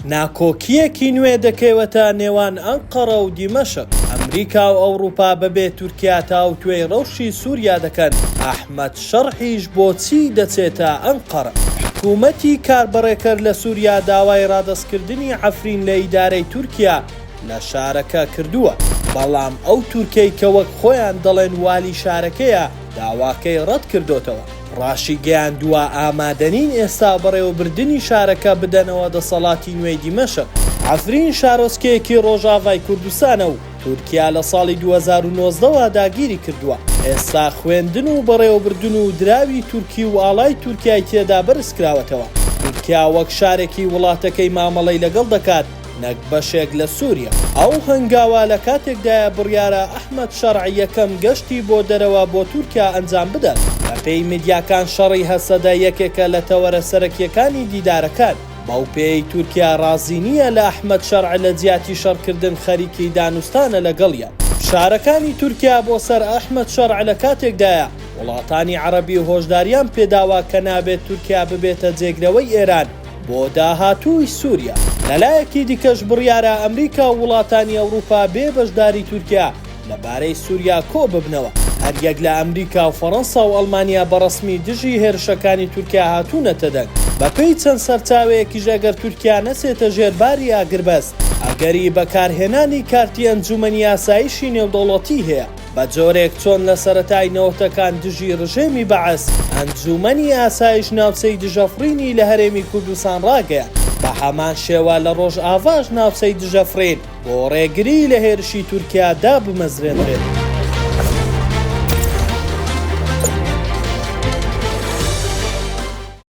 ناکۆکییەکی نوێ دەکەوێتە نێوان ئەنقەرە و دیمەشق، ئەمریکا و ئەوڕوپا بەبێ تورکیا تاوتوێی رەوشی سوریا دەکەن، ئەحمەد شەرحیش بۆچی دەچێتە ئەنقەرە؟ حکومەتی کاربەڕێکەر لە سوریا داوای رادەستکردنی عەفرین لە ئیدارەی تورکیا لە شارەکە کردووە، بەڵام ئەو تورکەی کە وەک خۆیان دەڵێن والی شارەکەیە داواکەی رەتکردۆتەوە. ڕاشیگەیاندووە، ئامادەنین ئێستا بەڕێوەبردنی شارەکە بدەنەوە دەسەڵاتی نوێی دیمەشق. عەفرین شارۆچکەیەکی ڕۆژاڤای کوردستانە و تورکیا لە ساڵی دوو هەزار و نۆزدە وە داگیری کردووە، ئێستا خوێندن و بەڕێوەبردن و دراوی تورکی و ئاڵای تورکیای تێدا بەرزکراوەتەوە، تورکیا وەک شارێکی وڵاتەکەی مامەڵەی لەگەڵ دەکات، نەک بەشێک لە سوریا. ئەو هەنگاوە لە کاتێکدایە بڕیارە ئەحمەد شەرع یەکەم گەشتی بۆ دەرەوە بۆ تورکیا ئەنجام بدات. بەپێی میدیاکان شەڕی هەسەدە یەکێکە لە تەوەرە سەرەکیەکانی دیدارەکان، بەو پێیەی تورکیا ڕازی نییە لە ئەحمەد شەرع لە جیاتی شەڕکردن خەریکی دانوستانە لەگەڵیان. فشارەکانی تورکیا بۆ سەر ئەحمەد شەرع لە کاتێکدایە وڵاتانی عەڕەبی هۆشداریان پێداوە کە نابێت تورکیا ببێتە جێگرەوەی ئێران، بۆ داهاتووی سووریا. لە لایەکی دیکەش بڕیارە ئەمریکا و وڵاتانی ئەوروپا بێ بەشداری تورکیا لە بارەی سووریا کۆ ببنەوە، هەریەک لە ئەمریکا و فەرەنسا و ئەڵمانیا بە ڕەسمی دژی هێرشەکانی تورکیا هاتوونەتە دەنگ. بە پێی چەند سەرچاوەیەکیش ئەگەر تورکیا نەچێتە ژێر باری ئاگربەست، ئەگەری بەکارهێنانی کارتی ئەنجوومەنی ئاسایشی نێودەوڵەتی هەیە. بە جۆرێک چۆن لە سەرەتای نەوەتەکان دژی ڕژێمی بەعس، ئەنجوومەنی ئاسایش ناوچەی دژەفڕینی لە هەرێمی کوردستان ڕاگەیاند، بە هەمان شێوە لە ڕۆژاڤاش ناوچەی دژەفڕین بۆ ڕێگریی لە هێرشی تورکیا دابمەزرێنرێت.